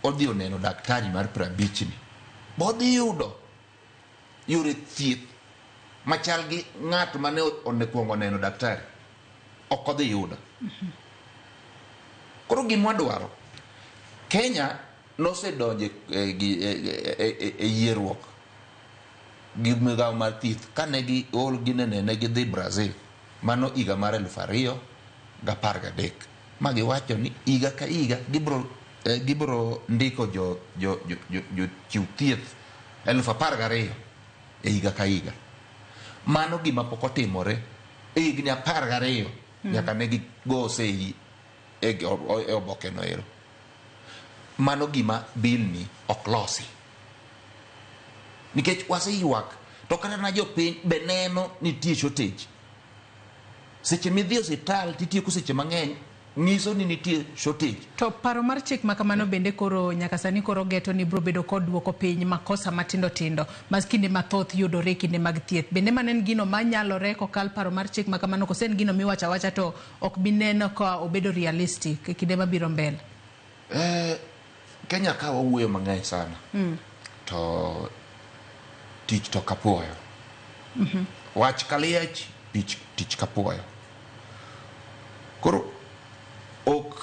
odhi oneno daktari mar prabichni, bodhi yudo yore thieth machal gi ng'at mane onekuongo oneno daktari ok odhi yudo. Koro gima wadwaro, Kenya nosedonje e yieruok gi migawo mar thieth kane gi ol ginene ne gidhi Brazil mano higa mar eluf ariyo gapar gadek. ma giwacho ni higa ka higa gibro eh, gibro ndiko jo jo jo, jo, jo chiw thieth elfu apar gariyo e higa ka higa mano gima pok otimore e higni apar gariyo nyaka ne gigo oseyi e gi- o- e oboke no ero mano gima bill ni ok losi nikech waseywak to kata na jopiny be neno nitie shortage Seche midhi e osiptal titieko seche mang'eny nyiso ni nitie shortage. To paro mar chik ma kamano bende koro nyaka sani koro geto ni biro bedo kod duoko piny makosa matindo tindo ma kinde mathoth yudore e kinde mag thieth. Bende mano en gino ma nyalore kokal paro mar chik ma kamano kose en gino miwacho awacha to ok bi neno ka obedo realistic e kinde mabiro mbele? Eh, Kenya ka wawuoyo mang'eny sana to tich to kapuoyo wach kaliech tich, tich kapuoyo koro ok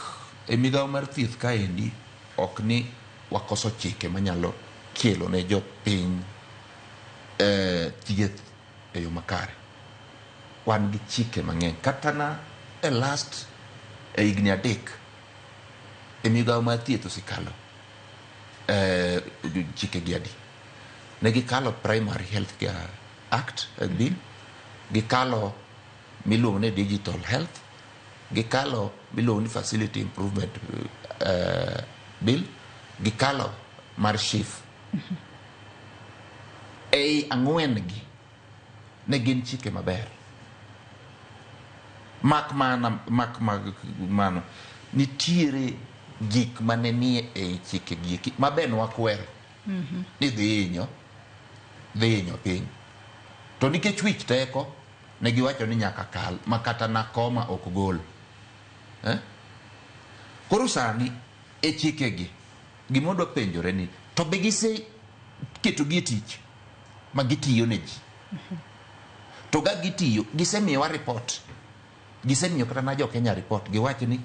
e migawo mar thieth kaendi ok ni wakoso chike manyalo kelo ne jopiny eh, thieth e yo makare wan gi chike mang'eny kata na e last e higni adek e migawo mar thieth osekalo eh, chike gi adi ne gikalo primary health care act eh, bill gikalo miluongo ni digital health gikalo miluongo ni facility improvement eh, bill gikalo mar shif ei ang'wen gi ne gin chike maber mak mana mak mag mano nitiere gik mane nie ei chike gieki mabe nwakwero ni dhi hinyo dhi hinyo piny to nikech wich teko ne giwacho ni nyaka kal ma kata nakoma ok gol eh? koro sani e chikegi gimodwa penjore ni to be gise ketogi e tich ma gitiyo ne ji to ga gitiyo gisemiyowa report gisemiyo kata na jokenya report giwacho ni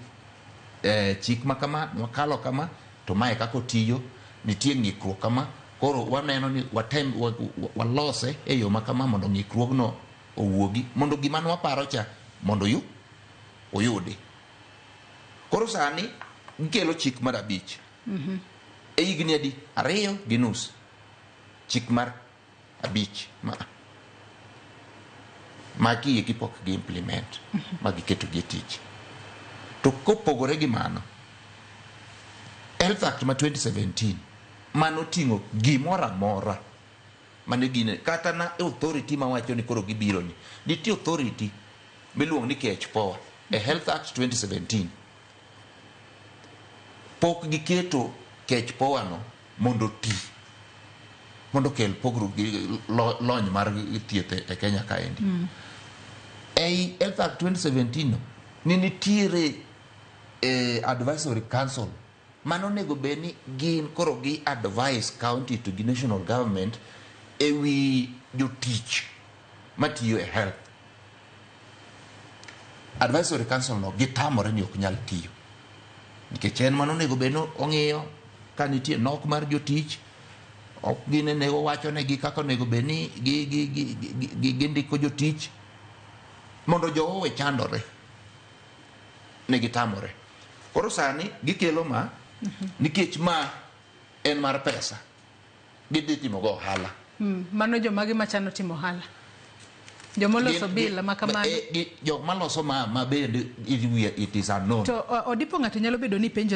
eh, chik ma kama wakalo kama to mae kaka otiyo nitie ng'ikruok kama koro waneno ni watem wa- wa- walose e yo ma kama mondo ng'ikruogno owuogi mondo gima ne waparo cha mondo oyu- oyudi koro sani gikelo chik mar abich e higni adi ariyo gi nus Chik mar abich ma magi eki pok gi implement ma giketo gi e tich. To kopogore gi mano, Health Act ma 2017 mano oting'o gimoro amora mane gine kata na authority mawacho ni koro gibiro ni. Nitie authority miluongo ni KHPOA e Health Act 2017 pok giketo KHPOA no mondo oti mondo okel pogruok gi lony mar thieth e Kenya kaendi. Mm. Ei Health Act 2017 no, ne nitiere eh, advisory council mano onego bed ni gin koro gi advice county to gi national government e wi jotich matiyo e Health Advisory Council no gitamore ni ok nyal tiyo nikech en mano onego bed ong'iyo ka nitie nok mar jotich ok gin ne wacho ne gi kaka onego bed ni gi gi gi gi ndiko jotich mondo jowo we chandore ne gitamore koro sani gikelo ma nikech ma en mar pesa gidhi timo go ohala. Mm, mano jomagi machano timo ohala jomoloso bila ma kamano eh, jok maloso ma, ma bende it is unknown to odipo ng'ato nyalo bedo ni penjo